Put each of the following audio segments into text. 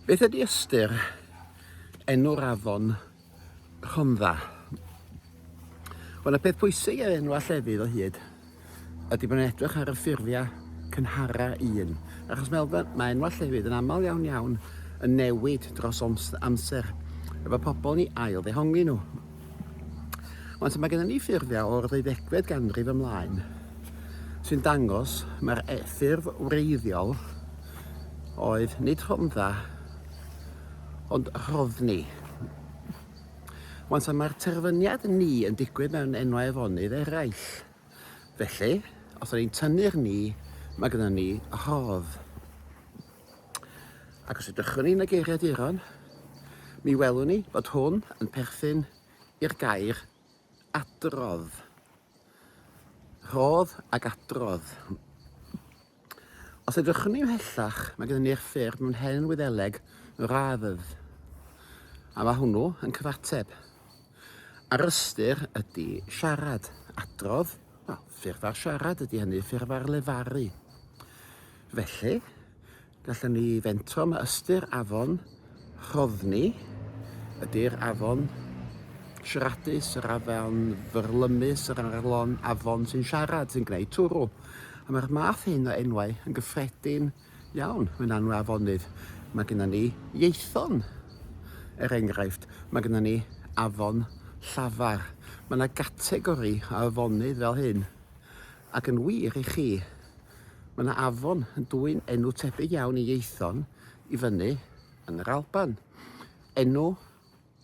Beth ydy ystyr enw'r afon Rhondda? Wel, y peth pwysig ar enw llefydd o hyd ydy bod yn edrych ar y ffurfiau cynhara un. Achos Melfa, mae enw llefydd yn aml iawn iawn yn newid dros amser efo pobl ni ail ddehongi nhw. Ond mae gennym ni ffurfiau o'r ddeuddegfed ganrif ymlaen sy'n dangos mae'r e- ffurf wreiddiol oedd nid Rhondda, ond Rhoddni. Wan ta mae'r terfyniad ni yn digwydd mewn enwau afonydd eraill. Felly, os o'n i'n tynnu'r ni, mae gyda ni rhodd. Ac os ydych ni'n y geiriaduron, mi welwn ni bod hwn yn perthyn i'r gair adrodd. Rhodd ac adrodd. Os edrychwn ni ymhellach, mae gyda ni'r ffyrdd mewn hen Wyddeleg radd, a mae hwnnw yn cyfateb. A'r ystyr ydy siarad, adrodd, wel, ffurf ar siarad ydy hynny, ffurf ar lefaru. Felly, gallen ni fentro mae ystyr afon Rhodni ydy'r afon siaradus, yr afon fyrlymus, yr arlon, afon sy'n siarad, sy'n gwneud twrw. A mae'r math hyn o enwau yn gyffredin iawn mewn anwau afonydd. Mae gennym ni ieithon, er enghraifft, mae gennym ni afon llafar. Mae yna gategori o afonydd fel hyn, ac yn wir i chi, mae yna afon yn dwyn enw tebyg iawn i ieithon, i fyny yn yr Alban. Enw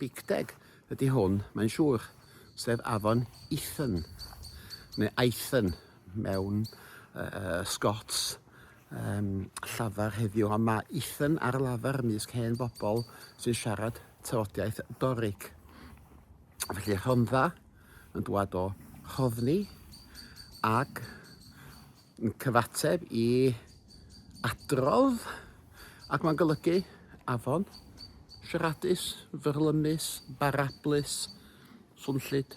Bicteg ydy hwn, mae'n siŵr, sef afon Ethan, neu Aethyn mewn uh, Scots um, llafar heddiw, ond mae Ethan ar lafar ymysg hen bobl sy'n siarad tywodiaeth Doric. Felly Rhondda yn dwad o Rhoddni ac Yn cyfateb i adrodd ac mae'n golygu afon, siaradus, fyrlymus, barablus, swnllyd.